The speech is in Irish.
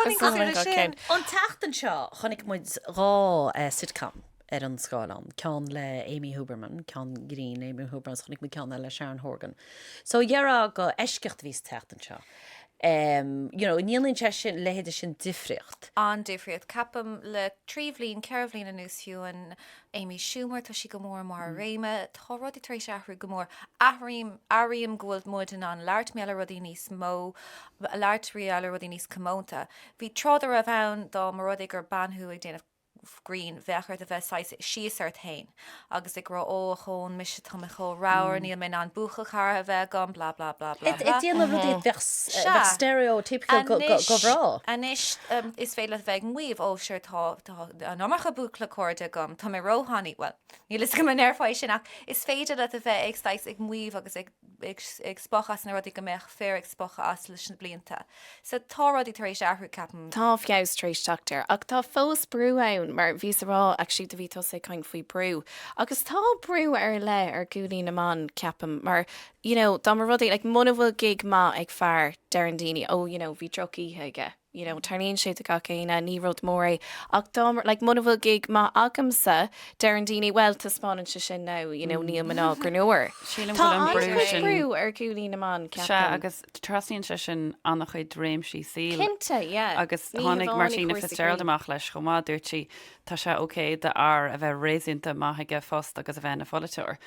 An tseachtain seo chonaic muid dhá sitcom ar an scáileán, ceann le Amy Huberman, ceann grinn Amy Huberman, agus chonaic muid ceann eile le Sharon Horgan. So dheirfá gur eisceacht a bhí sa tseachtain seo. You know, an ndéanann sé sin, a leithéid sin difríocht? An-difríocht. Ceapaim le trí bhliain, ceithre bhliain anuas fiú, an Amy Schumer, tá sí go mór i mbarr a réime. Tá rudaí tar éis athrú go mór. Airím go bhfuil muid in ann labhairt mar gheall ar rudaí níos mó, labhairt mar gheall ar rudaí níos comónta. Bhí tráth dá raibh ann dá mba rud é gur bean thú ag déanamh grinn, bheadh ort a bheith saghas síos ort féin agus ag rá, ó, ochón, mise, tá mé chomh ramhar, níl mé in ann buachaill cara a bheith agam, blah, blah, blah, blah, blah. Ag déanamh rudaí a bheadh stereotypical go breá. Anois, anois, is féidir leat a bheith ag maíomh, ó, sure, tá, Tá an iomarca buachaillí cairde agam. Tá mé róthanaí. Bhuel, níl a fhios agam an ndearfá é sin ach is féidir leat a bheith ag saghas ag maíomh agus ag ag spochadh as na rudaí go mbeadh fir ag spochadh as leis na blianta. So tá rudaí tar éis athrú, ceapaim. Tá feabhas tar éis teacht air. Ach tá fós brú ann mar bhí tú ag rá actually bhí tusa ag caint faoi brú agus tá brú ar leith ar ghuaillí na mban, ceapaim, mar you know dá mba rud é like muna bhfuil gig maith ag fear deireann daoine oh you know bhí droch-oíche aige. you know, tarlaíonn sé do gach éinne, ní rud mór é, ach dá mba, like, muna bhfuil gig maith agamsa, deireann daoine, well, taispeánann sé sin now, you know, níl mná greannmhar. Sílim go bhfuil an brú sin. Tá an brú ar ghuaillí na mban, ceapaim. Sea, agus trasnaíonn sé sin an-chuid réimsí saoil. Cinnte, yeah. Agus tháinig Martina Fitzgerald amach leis chomh maith, dúirt sí, tá sé ok d'fhear a bheith réasúnta maith ag a phost agus a bheith ina pholaiteoir.